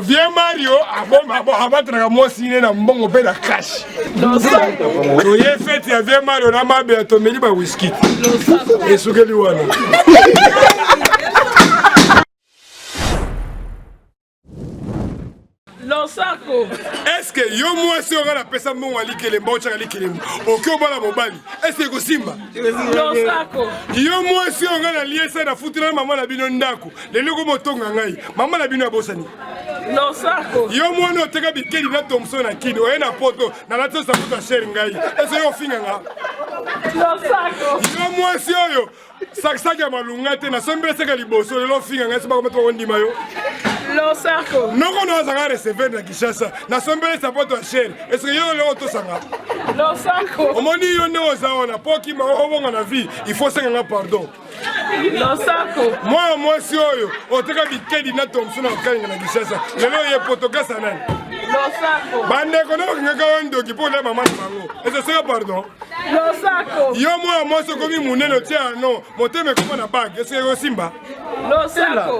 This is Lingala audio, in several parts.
Vieux Mario abatraka mwasi ne na mbongo mpe na cash. Oye fete ya Vieux Mario na mabe ya tomeli ba whisky. Esukeli wana. losako eske yo mwasi oyo nga napesa mbongo ya likelemba otyaka likelemba oke obala mobali eske ekosimba losako yo mwasi oyo nga naliesa nafutela mama na bino ndako lelo ko botonga ngai mama na bino abosani losako yo mwana oteka bikeli na tomso na kini oye na poto nalati osakuta shere ngai ese yo ofinga nga losako yo mwasi oyo sakisaki ya malunga te nasombi eseka liboso lelo ofinga ngai sobakomata bakondima yo losako noko no azanga receveur na kinshasa nasombeli sapoto ya shere eseke yo lelo otosanga losako omoni yo nde oza wana po okima obonga na vie il faut senga nga pardon mwana mwasi oyo oteka bikedi na tomso na kokalinga na kinshasa lelo ye potokasa nani bandeko nde bakangaka yo ndoki mpo olia mama na bango ezoseka pardon yo mwana mwasi okomi monene otia ano motema ekoma na bage eseke osimba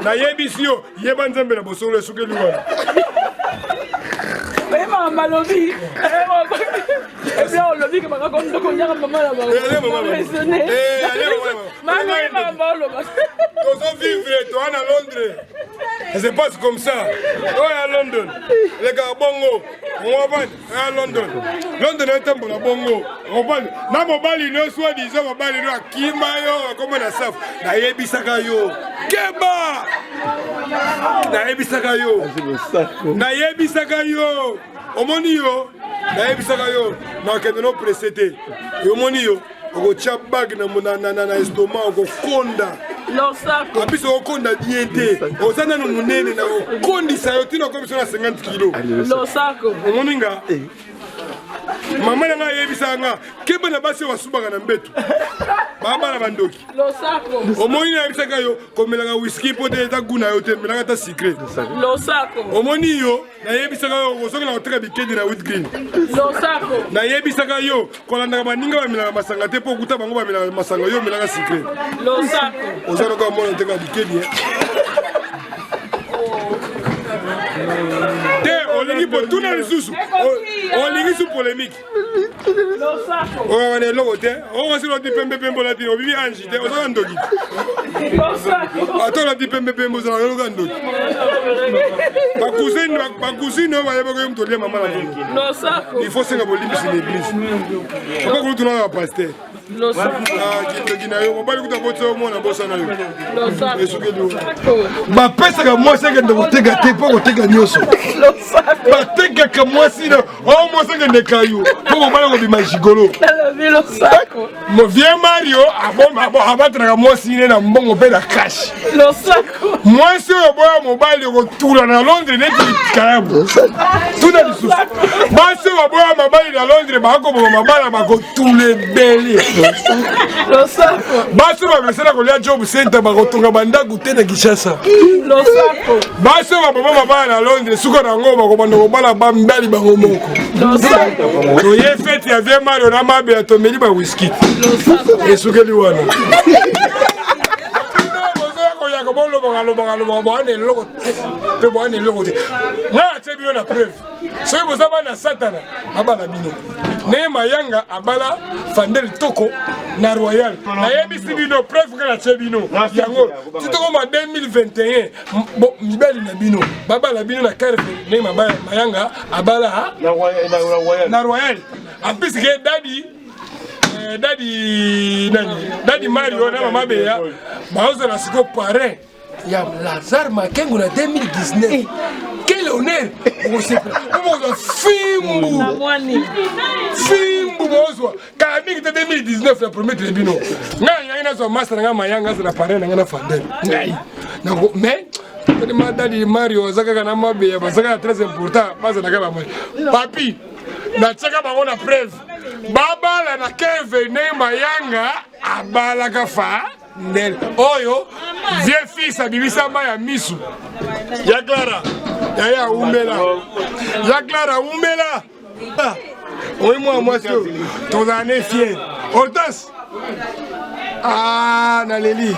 nayebisi yo yeba nzambe na bosolo esukeli wana tozovivre toa na londres se passe comme ça oyo ya london elekaka bongo omobani ya london london etambola bongo omobani na mobali no soi disant mobali no akima yo akoma na safu nayebisaka yo keba nayebisaka yo nayebisaka yo omoni yo nayebisaka yo nakende no presse te omoni yo okotya bage na estoma okokonda losako biso okonda die te oza nano monene na okondisa yo ntina okomi biso na 50 kilo losako omoni nga eh. mama na ngai ayebisaka nga keba na basi oyo basubaka na mbetu babala bandoki omoni nayebisaka yo komelaka wiski mpo te eza gu na yo te melaka ata sikre omoni yo nayebisaka yo ozokela koteka bikedi na witgreen nayebisaka yo kolandaka baninga bamelaka masanga te mpo okuta bango bamelaka masanga yo omelaka sikre oza noko amona oteka bikedi eh. te olingi potuna lisusu olingi su polemike oyo wana eloko te okosi olati pembe pembe olati obibi ange te ozaka ndoki ata olati pembe pembe ozalaka oloka ndoki bakusine bakusine oyo bayebaka yo moto olia mama na bango il faut senga bolimbisi na eglise okokulutuna na bapaster bapesaka mwasi akende koteka te mpo koteka nyonso batekaka mwasi na o oh, mwasi akende kayo mpo kobala kobima jigolo eh, vie mario abatraka mwasi ne na mbongo mpe na kashi mwasi oyo boya mobali okotula na londres neti kalabu tuna lisusu basi oyo baboya mabali na londres bakoboma mabala bakotula ebele basi oyo bamesana kolia job center bakotonga bandako te na kinshasa basi oyo baboma mabala na londres suka na yango bakobanda kobala bambali bango moko toye fete ya vie mario na mabela tomeli bawiskit esukeli wana boyaka bolobaka lobaka lobaka boyana eloko te mpe boyana eloko te ngai atie bino na preuve soki boza bana satana abala bino naye mayanga abala fandel toko na royal nayebisi bino preuve ngai natie bino yango titokoma 2021 mibali na bino babala bino na carve ndenge mayanga abala na royal en plus ke dadi eh, dadi nani dadi mario na mama beya baozala siko parrain ya lazare makengo na 2019 eh. quel honneur okosepela okozwa fimbu fimbu bozwa kala mingi te 2019 na premier tele bino ngai yangi nazwa masta na ngai mayanga azala parrain na ngai na fandel ngai mais telema dadi mario aza kaka na mabeya baza kaka très important bazalaka bamai papi natyaka bango na preuve babala na kevene mayanga abalaka fa ndele oyo vieux fils abimisama ya misu ya clara yaye awumela ya clara awumela ah, oyi mwa mwasi oyo tozala ne fier otas ah, naleli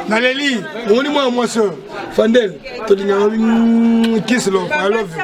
naleli omoni mwana mwasi oyo fandel tolingaka mm, kislo i love you